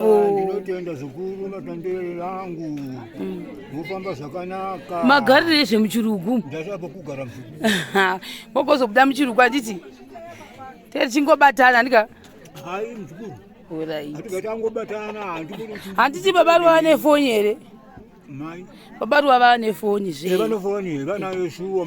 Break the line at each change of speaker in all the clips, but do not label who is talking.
ndinotoenda zvikuru matandere yangu vofamba zvakanaka magarire ezvemuchirugu
ndasava kugara
mogozobuda
muchirugu anditi tee tichingobatana andika hai mzukuru oritatikangobatana
handiti
baba ruva vane foni here mai
baba ruva vane
foni zve vane foni vanayo
shuwa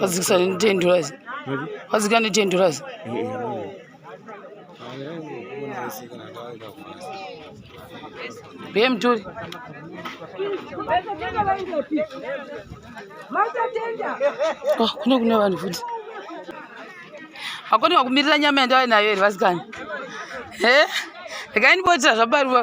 Wadzikisa ndi 10 dollars. Wadzika ndi 10 dollars. Be mtuli. Oh, kuna kuna vanhu futi. Hakuna wakumirira nyama yandawe nayo here vasikana? He? Rekai ndibotira zvabaruwa.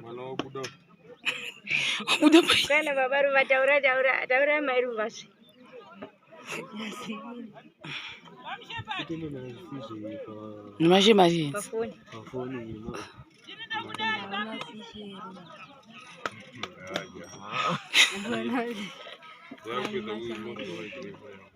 mwana wabuda
wabuda kana baba ruva taura
taura taura mai ruva zve
nemashe mari
Yeah,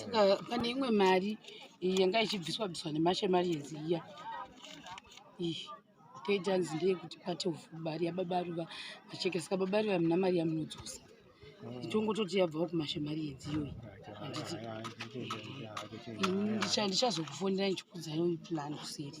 saka pane imwe mari yanga ichibviswa bviswa nemashe mari yenzi iya iyi toita nzi ndeyekuti pati mari yababa ruva macheke saka baba ruva muna mari yamunodzosa ichongototi hmm. yabvawo kumashe mari yenzi iyoyi handiti ndichazokufonera ndichikudzai uyu plan kuseri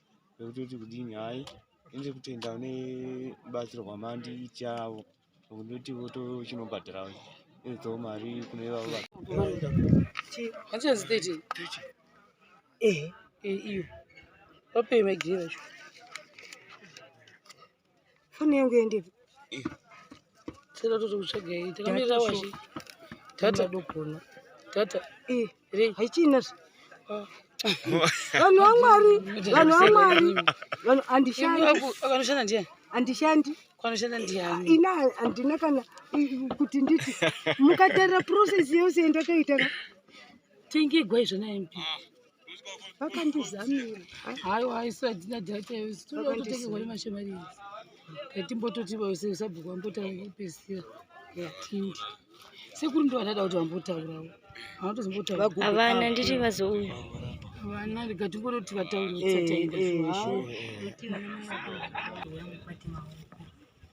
vekutoti kudini hayi ndiri kutenda une batsiro kwamandiitiavo kundoti votochinobhadhara idzo mari kune vavo vachazitete
ehe iyo vapei maigirira cho
Foni yangu yende.
Sasa toto kutsvaga hii. Takamira washi. Tata dokona.
Tata.
Eh, re.
Haichina. Ah. Vanhu vaMwari, vanhu vaMwari. Vanhu andishandi. Akanoshanda ndiye.
Andishandi.
Kwanoshanda ndiye.
Ah, ina andina
kana kuti nditi mukatarira process yose yandakaita.
Tengegwa izvo na MP. vakandizamira
haiwa isu
hadzina data isu tinoda kutotengerwa nemashomari idzi yatimbototi sabhuku vambotaura kupedzisira yatindi sekuru ndo vandada kuti vambotaurawo havana nditi
vazouya vana
ndikatingoroti vataura eh, eh,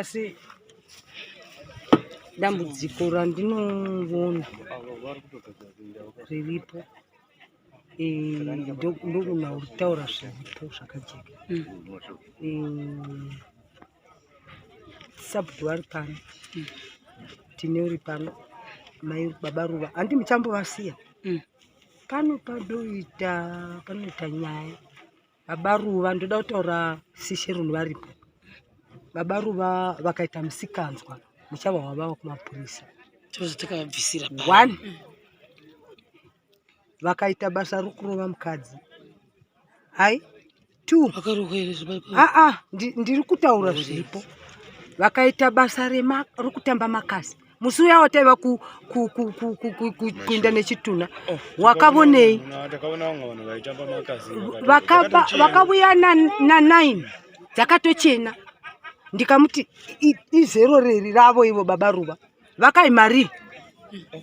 asi dambudziko randinovona riripo eh, ndogona kutaura zviripo zvakajeka mm. eh, sabhuti vari pano mm. tine uri pano mai baba ruva handi muchambovasiya mm. pano padoita panoita nyaya Baba Ruva ndoda kutaura sishe runhu varipo. Baba Ruva vakaita musikanzwa muchava wavava kumapurisa. Tozotokabvisira pa. One. Vakaita basa rokurova mukadzi. Hai. Two. Ah ah ndiri kutaura zviripo. Vakaita basa rema rokutamba makasi. musi uya wataiva kuinda nechitunha oh, wakavonei vakavuya nanine dzakatochena ndikamuti izero reri ravo ivo baba ruva vakaimari oh,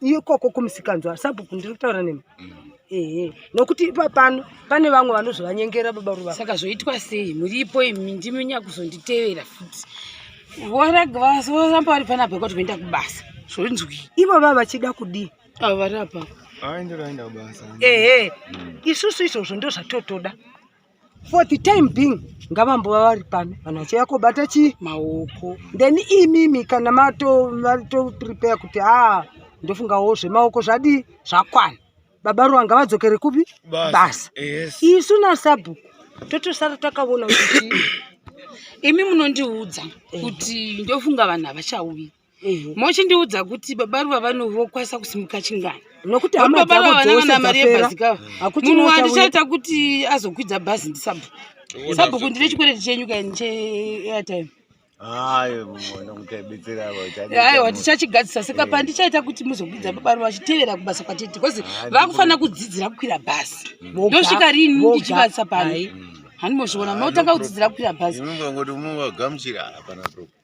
ikoko kumusikanzwa sabhuku ndiri kutaura nemi mm. ehe nokuti ipa pano pane vamwe vanozovanyengera baba ruva saka zvoitwa sei
muripo imi ndimi nyakuzonditevera futi voramba vari panapa yekuti voenda kubasa zvonzwi ivo vava vachida
kudii avo vari apapa
aenderoenda kubasa
ehe mm.
isusu izvozvo ndozvatotoda for the time being ngavambova vari pano vanhu vachiuya kobata chii maoko
then imimi
kana matoprepare kuti haa ndofungawo zvemaoko zvadii zvakwana baba ruwa ngavadzokere kupi basa isu nasabhuku totosara takavona kuti imi
munondiudza kuti ndofunga vanhu havachauyi mhm. mochindiudza kuti baba ruva vanovokwanisa kusimuka chingani nokuti baba ruva
vana vana
mari yebhazi kava munhu wandichaita kuti azokwidza bhazi ndisabhu sabhuku ndine chikwereti chenyu kaini cheairtime aiwa tichachigadzisa saka eh. pandichaita kuti muzokwidza baba ruva vachitevera kubasa kwatete because vakufanira kudzidzira kukwira bhazi mm. ndosvika rini ndichivasa pano mm. hanimozviona munotanga kudzidzira kukwira bhazi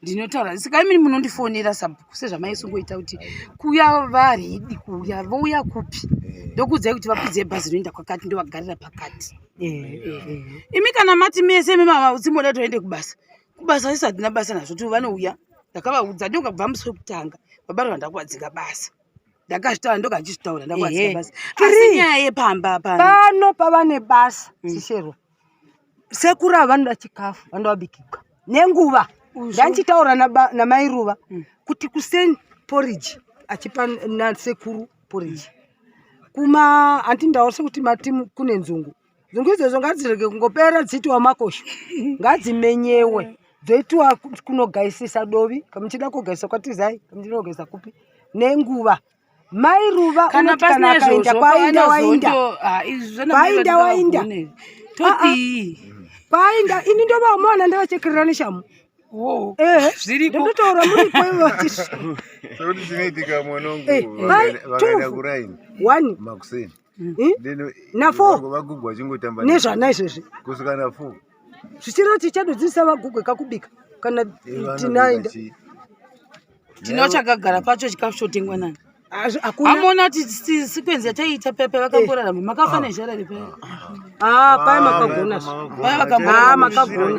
ndinotaura saka imini munondifonera sabhuku sezvamaisungoita kuti kuuya varidi kuuya vouya kupi eh. ndokuudzai kuti vakwidze bhazi rinoenda kwakati ndovagarira pakati eh, eh, imi kana mati mese mimavautsimboda toende kubasa kubasa sisi hatina basa nazvo ti vanouya ndakavaudza ndokabva musi wekutanga baba rava ndakuvadzinga basa ndakazvitaura ndoga ndichizvitaura ndakuvadzinga basa asi nyaya yepamba pano pavane
basa mm. sisherwa sekuru ava vanoda chikafu vanoda vabikibwa nenguva ndandichitaura namai ruva mm. kuti kuseni poriji achipa nasekuru poriji kuma handi ndaona sekuti matimu kune nzungu nzungu idzodzo ngadzirege kungopera dziitiwa makosho ngadzimenyewe dzoitiwa kunogaisisa dovi kamuchida kugaisa kwatizai kamuchida kugaisa kupi nenguva mai ruva kana pasina izvozvo kwainda wainda kwainda wainda kwainda ini ndovaumona ndavachekerera neshamu Oh, eh, zvirikototaura muri kwevatisekuti
zvinoitika mwanangu eh, vakaenda kuraini makuseni Hmm? Hmm?
nafovagugwa chingotamba
nezvana izvezvi
kusvika nafo
zvichiro
tichadodzisa vagugwe kakubika kana eh, tinaenda tino
chakagara pacho chikafu chotengwa nani amona kuti sikwenzi yataiita paya paya vakangorarama eh. makafa ah. nezhara repaya ah, ah, paya
makagona paya
vakagona ah, makagona